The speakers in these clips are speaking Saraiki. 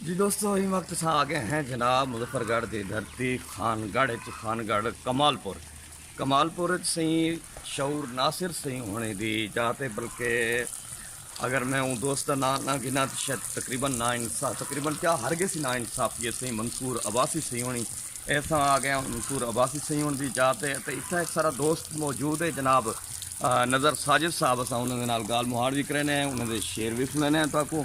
جی دوستو ہی وقت سا آگے ہیں جناب مظفر گڑھ دی دھرتی خان گڑھ اچ خان گڑھ کمال پور کمال پور اچ سہی شعور ناصر سہی ہونے دی جاتے بلکہ اگر میں اون دوست دا نام نہ گنا تو شاید تقریبا نا انصاف تقریبا کیا ہر گے سی نا انصاف یہ سہی منصور عباسی سہی ہونی ایسا آ گیا منصور عباسی سہی ہون دی جاتے تے اتھا ایک سارا دوست موجود ہے جناب نظر ساجد صاحب اسا انہاں دے نال گال مہاڑ بھی کرینے ہیں انہاں دے شعر بھی سنینے ہیں تاکوں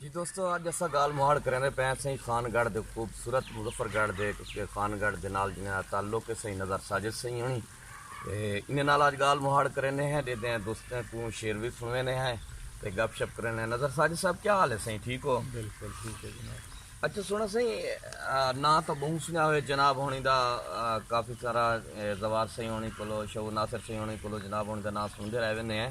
جی دوستو اج اسا گال مہاڑ کریندے پے ہیں سائیں خان گڑھ دے خوبصورت مظفر گڑھ دے کیونکہ خان گڑھ دے نال جنہاں دا تعلق ہے سائیں نظر ساجد سائیں ہنی تے انہاں نال اج گال مہاڑ کریندے ہیں دے دیں دوستاں کو شعر بھی سنویندے ہیں تے گپ شپ کریندے ہیں نظر ساجد صاحب کیا حال ہے سائیں ٹھیک ہو بالکل ٹھیک ہے جناب اچھا سونا سائیں نا تو بہوں سنیا ہوئے جناب ہونی دا کافی سارا زوار سائیں ہونی کولو شو ناصر سائیں ہونی کولو جناب ہونی دا نا سن دے رہے ویندے ہیں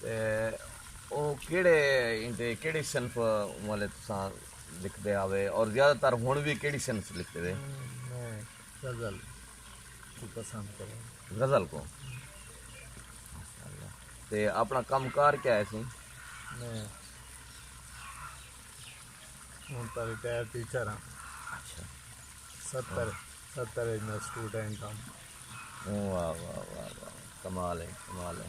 تے او کیڑھے ایندے کیڑھی صنف والے تساں لکھدے آوے اور زیادہ تر ہن وی کیڑھی صنف لکھدے وے؟ میں غزل کوں پسند کراں۔ غزل کوں؟ تے اپنا کم کار کیا ہے سی؟ میں ہن تاں ریٹائر ٹیچر ہاں۔ اچھا۔ ستر ستر اچ میں سٹوڈنٹ ہاں۔ واہ واہ واہ واہ کمال ہے کمال ہے۔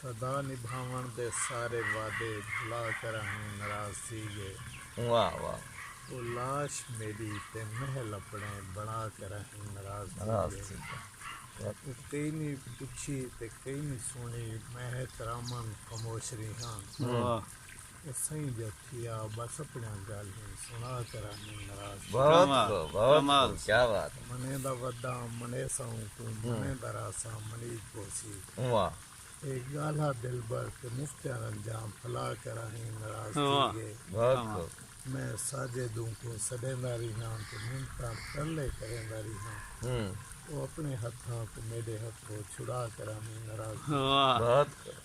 صدا نبھاوݨ دے سارے وعدے بھلا کراہیں ناراض تھی ڳئے او لاش میݙی تے محل اپݨے بݨا کراہیں ناراض تھی ڳئے او کئی نی پچھی تے کئی نی سݨی میں ہے ترامن خموش ریہاں اسئیں جتھیا بس اپنڑیاں گالھیں سنڑا کراہیں نراض کیوں بہت کمال خوب بہت کمال خوب کیا بات ہے منیں دا وداں منیساں اوکوں ہوں منیں دا راساں منیج پوسی ہوا اے گالھا دلبر تے مفتیاں رنجاں پھلا کراہیں نراض تھی واہ گئے بہت کمال خوب میں ساجد اوکوں سڈیندا ریہاں تے منتاں ترلے کریندا ریہاں ہوں او اپنڑے ہتھاں کوں میڈے ہتھوں چھڑا کراہیں نراض تھی گئے واہ بہت خوب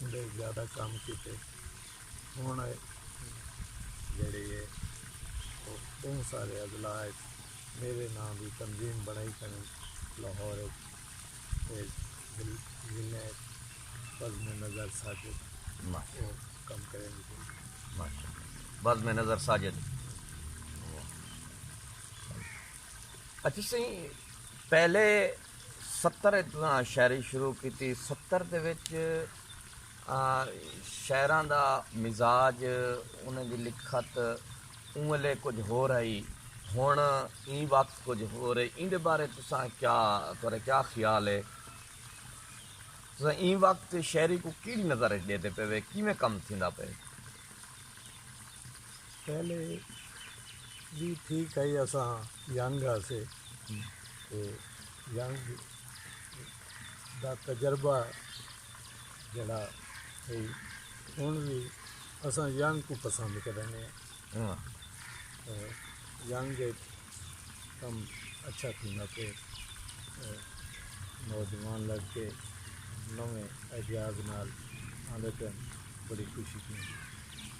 اندے زیادہ کم کیتے ہن جیڑھے ہے او بہوں سارے اضلاع اچ میرے ناں دی تنظیم بنڑائی کھڑن لاہور اچ تے ضلع اچ بزم نظر ساجد او کم کریندی پئی ماشاءاللہ بزم نظر ساجد اچھا سائیں پہلے ستر اچ تساں شاعری شروع کیتی ستر دے وچ شاعراں دا مزاج انہاں دی لکھت اوں ویلے کجھ ہور ہئی ہن ایں وقت کجھ ہور ہے ایں دے بارے تساں کیا تہاڈا کیا خیال ہے تساں ایں وقت شاعری کوں کیڑی نظر اچ ڈیندے پئے وے کیویں کم تھیندا پئے پہلے وی ٹھیک ہئی اساں ینگ ہاسے تے ینگ دا تجربہ جیڑھا ہئی ہن وی اساں ینگ کوں پسند کرینے آں تے ینگ اچ کم اچھا تھیندا پئے تے نوجوان لگ کے نویں آئیڈیاز نال آندے پئن بڑی خوشی تھیندی۔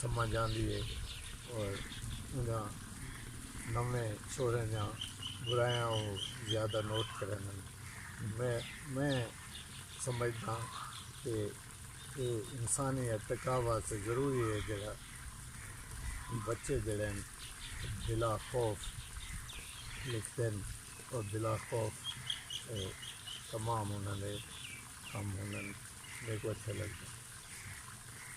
سمجھ آندی ہے اور انہاں نویں چھوڑیں دیاں برایاں او زیادہ نوٹ کریندن میں میں سمجھداں کہ اے انسانی ارتقا واسطے ضروری ہے جیڑھا بچے جیڑھے ہن بلا خوف لکھتے ہن اور بلا خوف تمام انہاں دے کم ہونن میکوں اچھا لگدا۔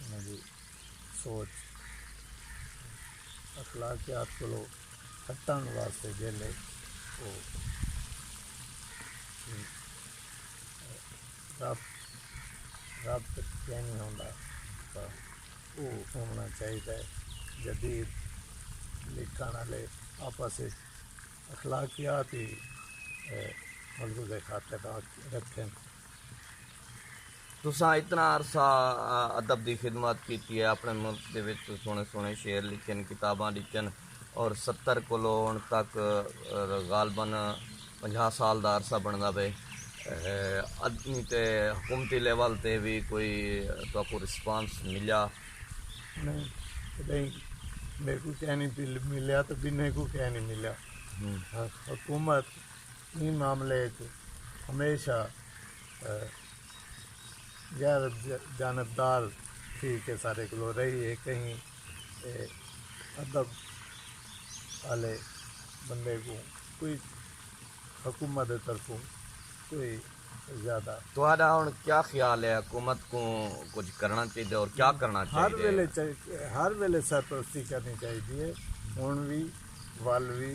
انہاں دی سوچ اخلاقیات کولو ہٹن واسطے جیلے او رب رب تک کہیں نہیں ہوندا تاں او ہونا چاہیدا ہے جدید لکھن والے آپس وچ اخلاقیات ہی ملحوظ خاطر رکھن تساں اتنا عرصہ ادب دی خدمت کیتی ہے اپنے ملک دے وچ سوہنے سوہنے شعر لکھے ہن کتاباں ڈکھیاں اور ستر کولو ہن تک غالبا پنجاہ سال دا عرصہ بندا پئے ادنی تے حکومتی لیول تے وی کوئی تہاکوں رسپانس ملیا نہیں کدیں میکوں کہنی ملیا تے بنہیں کوں کہنی ملیا حکومت ایں معاملے اچ ہمیشہ غیر جانبدار تھی کے ساڈے کولوں رہی ہے کہیں ادب آلے بندے کوں کوئی حکومت دے طرفوں کوئی زیادہ تہاڈا ہن کیا خیال ہے حکومت کوں کچھ کرنا چاہیدے اور کیا کرنا چاہیدے ہر ویلے ہر ویلے سرپرستی کرنی چاہیدی ہے ہن وی ول وی